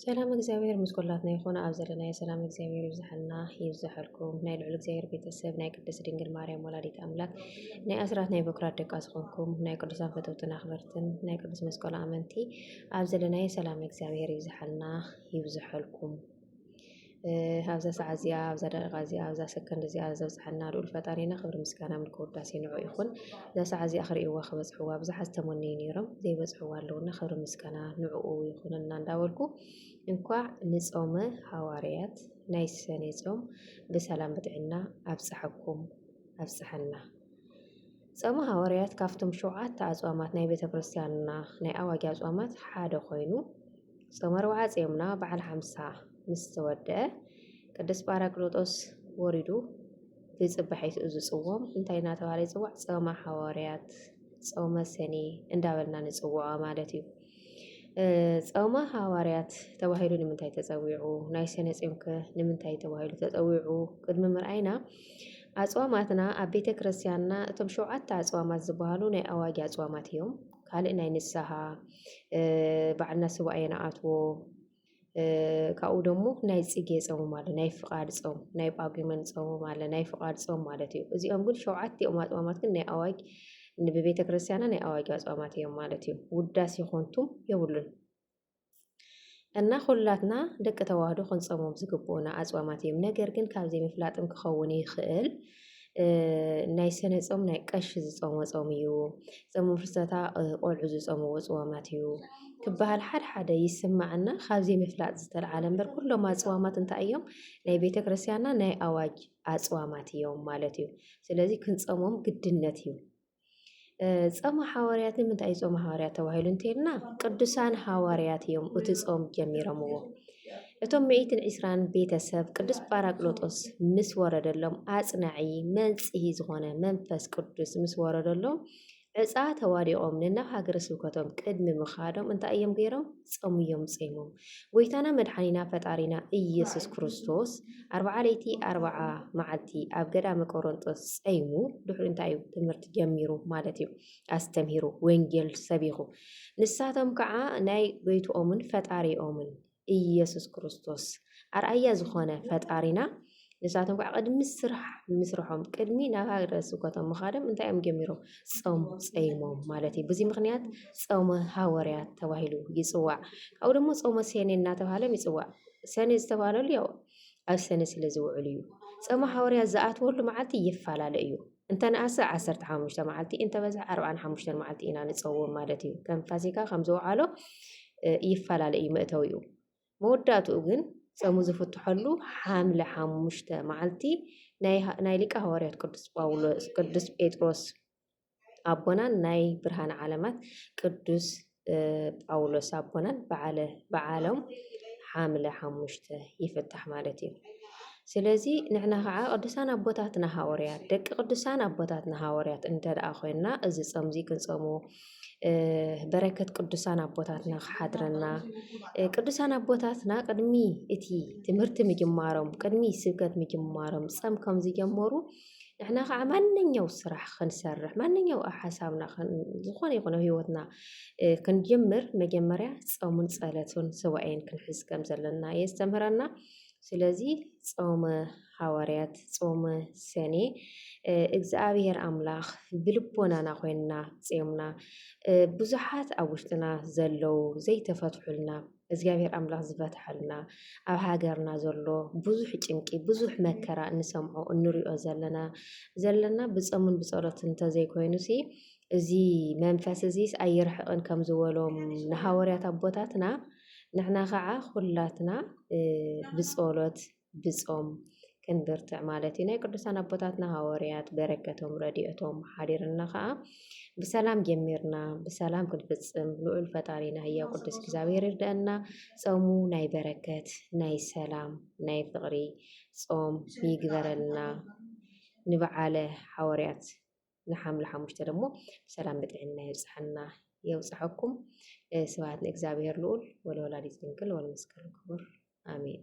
ሰላም እግዚኣብሔር ምስ ኩላትና ይኹን ኣብ ዘለናዮ ሰላም እግዚኣብሔር ይብዝሓልና ይብዝሓልኩም ናይ ልዑል እግዚኣብሔር ቤተሰብ ናይ ቅድስት ድንግል ማርያም ወላዲት ኣምላክ ናይ ኣስራት ናይ በኩራት ደቃ ዝኾንኩም ናይ ቅዱሳን ፈተውትን ኣኽበርትን ናይ ቅዱስ መስቀሉ ኣመንቲ ኣብ ዘለናዮ ሰላም እግዚኣብሔር ይብዝሓልና ይብዝሓልኩም ኣብዛ ሰዓት እዚኣ ኣብዛ ደቂቃ እዚኣ ኣብዛ ሰከንድ እዚኣ ዘብጽሓና ልዑል ፈጣሪና ክብሪ ምስጋና ምልኪ ውዳሴ ንዑ ይኹን። እዛ ሰዓት እዚኣ ክርእይዋ ክበጽሕዋ ብዙሓት ዝተመነዩ ነይሮም ዘይበጽሕዋ ኣለውና ክብሪ ምስጋና ንዑኡ ይኹነና እንዳበልኩ እንኳዕ ንጾመ ሃዋርያት ናይ ሰኔ ጾም ብሰላም ብጥዕና ኣብጽሐኩም ኣብጽሐና። ጾመ ሃዋርያት ካብቶም ሸውዓተ ኣጽዋማት ናይ ቤተ ክርስቲያንና ናይ ኣዋጊ ኣጽዋማት ሓደ ኮይኑ ጾመ ኣርብዓ ጼምና በዓል ሓምሳ ምስ ተወድአ ቅዱስ ጳራቅሊጦስ ወሪዱ ብጽባሒቱ እዚ ጽዎም እንታይ እናተባህለ ይጽዋዕ? ጾመ ሓዋርያት፣ ጾመ ሰኔ እንዳበልና ንጽውዖ ማለት እዩ። ጾመ ሃዋርያት ተባሂሉ ንምንታይ ተጸዊዑ? ናይ ሰነ ጾምከ ንምንታይ ተባሂሉ ተጸዊዑ? ቅድሚ ምርኣይና ኣጽዋማትና ኣብ ቤተ ክርስቲያንና እቶም ሸውዓተ ኣጽዋማት ዝበሃሉ ናይ ኣዋጊ ኣጽዋማት እዮም። ካልእ ናይ ንስሃ ባዕልና ስዋእየ ንኣትዎ ካብኡ ደሞ ናይ ፅጌ ፆምም ኣለ ናይ ፍቓድ ፆም ናይ ጳጉመን ፆምም ኣለ ናይ ፍቓድ ፆም ማለት እዩ እዚኦም ግን ሸውዓቲኦም ኣፅዋማት ግን ናይ ኣዋጅ ብቤተ ክርስቲያና ናይ ኣዋጅ ኣፅዋማት እዮም ማለት እዩ ውዳሴ ኮንቱም የብሉን እና ኹላትና ደቂ ተዋህዶ ክንጾሞም ዝግብኡና ኣጽዋማት እዮም። ነገር ግን ካብ ዘይምፍላጥም ክኸውን ይኽእል ናይ ሰነ ጾም ናይ ቀሺ ዝጾሞ ጾም እዩ ጾም ፍልሰታ ቆልዑ ዝጾምዎ ጽዋማት እዩ ክበሃል ሓደ ሓደ ይስማዕና ካብ ዘይምፍላጥ ዝተልዓለ እምበር ኩሎም ኣጽዋማት እንታይ እዮም ናይ ቤተ ክርስትያንና ናይ ኣዋጅ ኣጽዋማት እዮም ማለት እዩ ስለዚ ክንጾሞም ግድነት እዩ ጸማ ሓዋርያት ንምንታይ እዩ ጾማ ሓዋርያት ተባሂሉ እንተልና ቅዱሳን ሓዋርያት እዮም እቲ ጾም ጀሚሮምዎ። እቶም ሚእትን ዒስራን ቤተሰብ ቅዱስ ጳራቅሎጦስ ምስ ወረደሎም ኣጽናዒ መንጽሂ ዝኾነ መንፈስ ቅዱስ ምስ ወረደሎም ዕፃ ተዋዲቖም ንናብ ሃገረ ስብከቶም ቅድሚ ምኻዶም እንታይ እዮም ገይሮም? ጸሙ እዮም ጸይሞም ጎይታና መድሓኒና ፈጣሪና ኢየሱስ ክርስቶስ ኣርብዓ ለይቲ ኣርብዓ መዓልቲ ኣብ ገዳመ ቆሮንጦስ ጸይሙ ድሕሪ እንታይ እዩ ትምህርቲ ጀሚሩ ማለት እዩ ኣስተምሂሩ ወንጌል ሰቢኹ ንሳቶም ከዓ ናይ ጎይትኦምን ፈጣሪኦምን ኢየሱስ ክርስቶስ ኣርኣያ ዝኾነ ፈጣሪና ንሳቶም ከዓ ቅድሚ ስራሕ ምስርሖም ቅድሚ ናብ ሃገረ ስብከቶም ምኻዶም እንታይ እዮም ጀሚሮም? ጾም ጸይሞም ማለት እዩ። በዚ ምክንያት ጾመ ሃወርያት ተባሂሉ ይጽዋዕ። ካብኡ ደግሞ ጾመ ሴኔ እናተባህለም ይጽዋዕ። ሰኔ ዝተባህለሉ ያው ኣብ ሰኔ ስለ ዝውዕሉ እዩ። ጾመ ሃወርያት ዝኣትወሉ መዓልቲ ይፈላለ እዩ። እንተነኣሰ ዓሰርተ ሓሙሽተ መዓልቲ እንተበዝሐ ዓርባን ሓሙሽተን መዓልቲ ኢና ንጸውም ማለት እዩ። ከም ፋሲካ ከም ዝውዓሎ ይፈላለ እዩ መእተዊኡ። መወዳእትኡ ግን ጸሙ ዝፍትሐሉ ሓምለ ሓሙሽተ መዓልቲ ናይ ሊቀ ሃዋርያት ቅዱስ ጳውሎስ ቅዱስ ጴጥሮስ ኣቦናን ናይ ብርሃን ዓለማት ቅዱስ ጳውሎስ ኣቦናን በዓለ በዓሎም ሓምለ ሓሙሽተ ይፍታሕ ማለት እዩ። ስለዚ ንሕና ከዓ ቅዱሳን ኣቦታትና ሃወርያት ደቂ ቅዱሳን ኣቦታትና ሃወርያት እንተ ደኣ ኮይንና እዚ ጾምዚ ክንጾሙ በረከት ቅዱሳን ኣቦታትና ክሓድረና ቅዱሳን ኣቦታትና ቅድሚ እቲ ትምህርቲ ምጅማሮም ቅድሚ ስብከት ምጅማሮም ጸም ከም ዝጀመሩ ንሕና ከዓ ማንኛው ስራሕ ክንሰርሕ ማንኛው ሓሳብና ዝኾነ ይኹነ ህይወትና ክንጅምር መጀመርያ ጸሙን ጸለቱን ስዋኤን ክንሕዝ ከም ዘለና የስተምህረና። ስለዚ ጾመ ሃዋርያት ጾመ ሰኔ እግዚኣብሔር ኣምላኽ ብልቦናና ኮይንና ጼምና ብዙሓት ኣብ ውሽጥና ዘለዉ ዘይተፈትሑልና እግዚኣብሔር ኣምላኽ ዝፈትሐልና ኣብ ሃገርና ዘሎ ብዙሕ ጭንቂ ብዙሕ መከራ እንሰምዖ እንሪኦ ዘለና ዘለና ብጾምን ብጸሎት እንተዘይኮይኑ ሲ እዚ መንፈስ እዚስ ኣይርሕቕን ከም ዝበሎም ንሃዋርያት ኣቦታትና ንሕና ካዓ ኩላትና ብፆሎት ብፆም ክንብርትዕ ማለት እዩ ናይ ቅዱሳን ኣቦታትና ሃወርያት በረከቶም ረድኤቶም ሓዲርና ካዓ ብሰላም ጀሚርና ብሰላም ክንፍፅም ልዑል ፈጣሪና ህያው ቅዱስ እግዚኣብሔር ይርደአና ፆሙ ናይ በረከት ናይ ሰላም ናይ ፍቅሪ ፆም ይግበረልና ንበዓለ ሓወርያት ንሓምለ ሓሙሽተ ደሞ ሰላም ብጥዕና የብጽሓና የውጽሐኩም ስብሃት ንእግዚኣብሔር ልኡል ወለወላዲት ድንግል ወለመስቀሉ ክቡር ኣሜን።